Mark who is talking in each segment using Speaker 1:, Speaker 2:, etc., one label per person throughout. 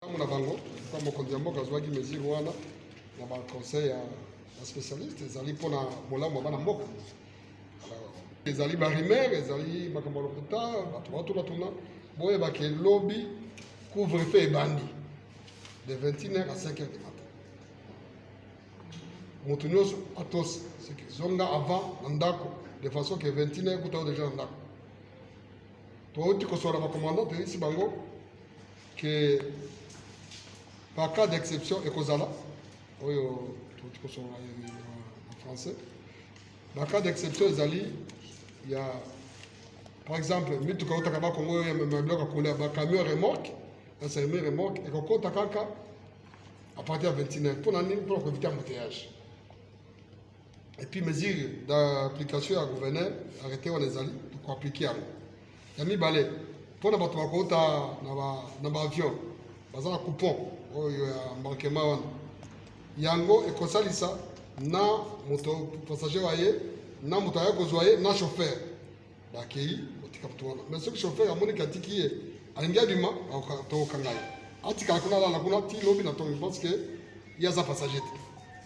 Speaker 1: Tango na bango kwa mokonzi ya mboka azuaki mesure wana na ba conseil ya ba specialiste ezali mpo na bolamu ya bana mboka. Ezali ba rumeur, ezali makambo ya lokuta, bato batuna tuna boyeba ke lobi couvre-feu ebandi de 21h à 5h du matin. Moto nyonso atosi seke zonga avant na ndako de façon que 21h kuta deja na ndako. Touti kosola ba commandant toyebisi bango que par cas d'exception ekozala oyo tokoki kosolola na français ba cas d'exception ezali ya par exemple mituka eutaka bakongo oyo emema biloko ya kolia bacamion remorque na semi remorque ekokota kaka à partir ya 29 mpo na nini mpo na koevite embouteillage et puis mesure d'application ya gouverneur arrete wana ezali tokoaplike yango ya mibale mpo na bato bakouta na baavion baza na coupon oyo ya embarquement wana yango ekosalisa na moto passager wa ye na moto aya kozwa ye na chauffeur bakei kotika moto wana mais soki chauffeur amoniki atiki ye alingi abima tokokanga ye atikala kuna alala kuna ti lobi na tongi parce que ye aza passager te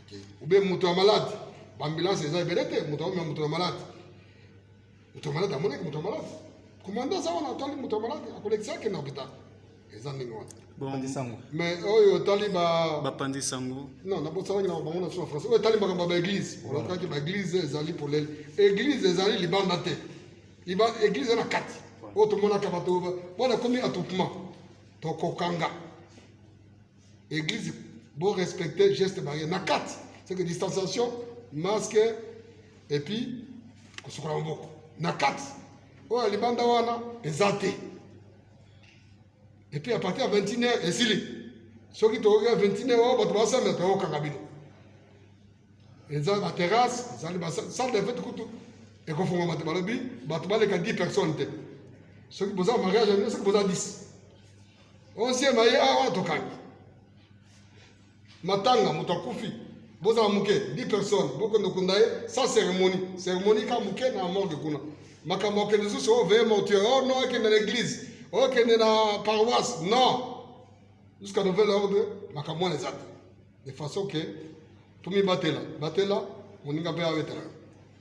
Speaker 1: okay. ube moto ya malade baambulance eza ebele te moto aomema moto ya malade moto ya malade amonaki moto ya malade komanda aza wana atali moto ya malade akolekisa yake na hopital eza ndenge wana mais
Speaker 2: oyo otali
Speaker 1: bapanzi sango
Speaker 2: non nabosanaki na
Speaker 1: bango na sua français oyo etali makambo ya baeglise olakaki baeglise ezali polele eglise ezali libanda te eglise na kati oyo tomonaka bato wana ekomi atupement tokokanga Église, bon respecter geste barrière. Na kati, c'est que distanciation, masque, et puis, kosukola maboko. Na kati, oyo ya libanda wana eza te. Et puis à partir ya 21 heures esili. Soki toyoki ya 21 heures oyo bato basambela toyokaka bino. Eza ba terrasse, ezali ba salle de fête kutu ekofungwa bato balobi bato baleka 10 personnes te. Soki boza mariage ya bino soki boza 10 Onzieme aye awa wana tokangi matanga, moto akufi, bozala moke 10 personnes, bokende okunda ye sans cérémonie, cérémonie ka moke na morgue kuna. Makambo ya kokende lisusu o veye mortuaire, oh non, ekende na église, okende na paroisse, non, jusqu'à nouvel ordre, makambo wana eza te. de façon que tomibatela batela moninga mpe abetela yo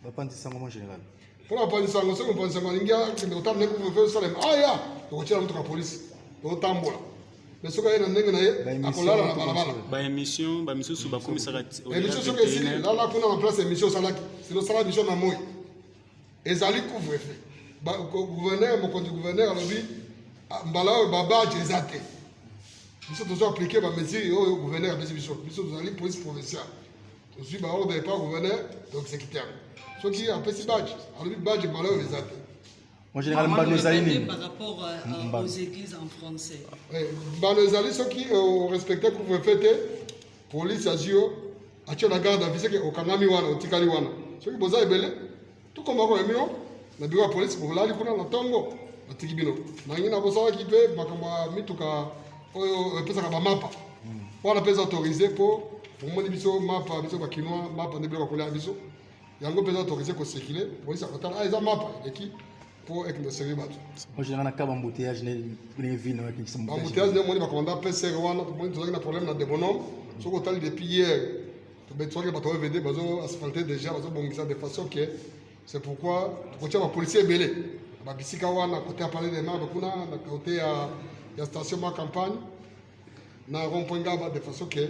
Speaker 1: bapanzi sango
Speaker 2: mon général mpo na bapanzi sango
Speaker 1: soki mopanzi sango alingi akende kotala ndenge kuvefe osalema aya tokotyela motuka polisi tokotambola me soki aye na ndenge na ye akolala na balabala baémission
Speaker 2: bamisusu bakomisaka émission soki esili
Speaker 1: lala kuna na place ya émission osalaki sino osala émission na moi ezali couvre-feu gouverneur mokonzi gouverneur alobi ah, mbala oyo babadge eza te biso tozo aplike bamesure oyo gouverneur apesi biso biso tozali police provinciale tozwi baordre epa gouverneur to exécuter yango soki apesi badge alobi badge mbala oyo eza te
Speaker 2: mbano ezali
Speaker 3: nini mbano ezali
Speaker 1: soki orespecte euh, couvre-feu te Police azwi yo atyo na garde à vue seke okangami wana otikali wana soki boza ebele tokoma ko yamino na biro ya polisi bolali kuna na ntongo batiki bino nangi na bosalaki mpe makambo ya mituka oyo epesaka bamapa hmm. wana mpe eza autorise mpo omoni biso mapa biso bakinois mapa nde biloko kolia biso yango mpe eza autorise kosekile polisi akotala ah, eza mapa eleki po ekende osenge bato ojanga na kaba
Speaker 2: embouteillage ndenge ville nayo ekendisa embouteillage nde omoni bakomanda
Speaker 1: pcr wana tomoni tozalaki na problème na debonome soki otali depuis hier tobetwaki bato oyo vede bazo asphalte déjà bazobongisa de façon que c'est pourquoi tokotya bapolicier ebele na babisika wana kote ya palais de marbe kuna na kote ya station ma campagne na rond point ngaba de façon que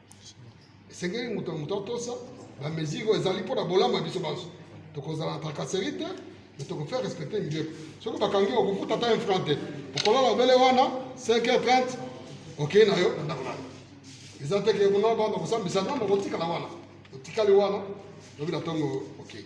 Speaker 1: esengeli moto na moto atosa bamesure oyo ezali mpo na bolamu ya biso banso tokozala na tracasserie te me tokofaire respecte mibeko soki bakangi okofuta ata infran te okolala obele wana 5 heure 30 okei na yo na ndako nayo eza te ke kuna bana kosambisa nano okotikala wana otikali wana lobi na ntongo okei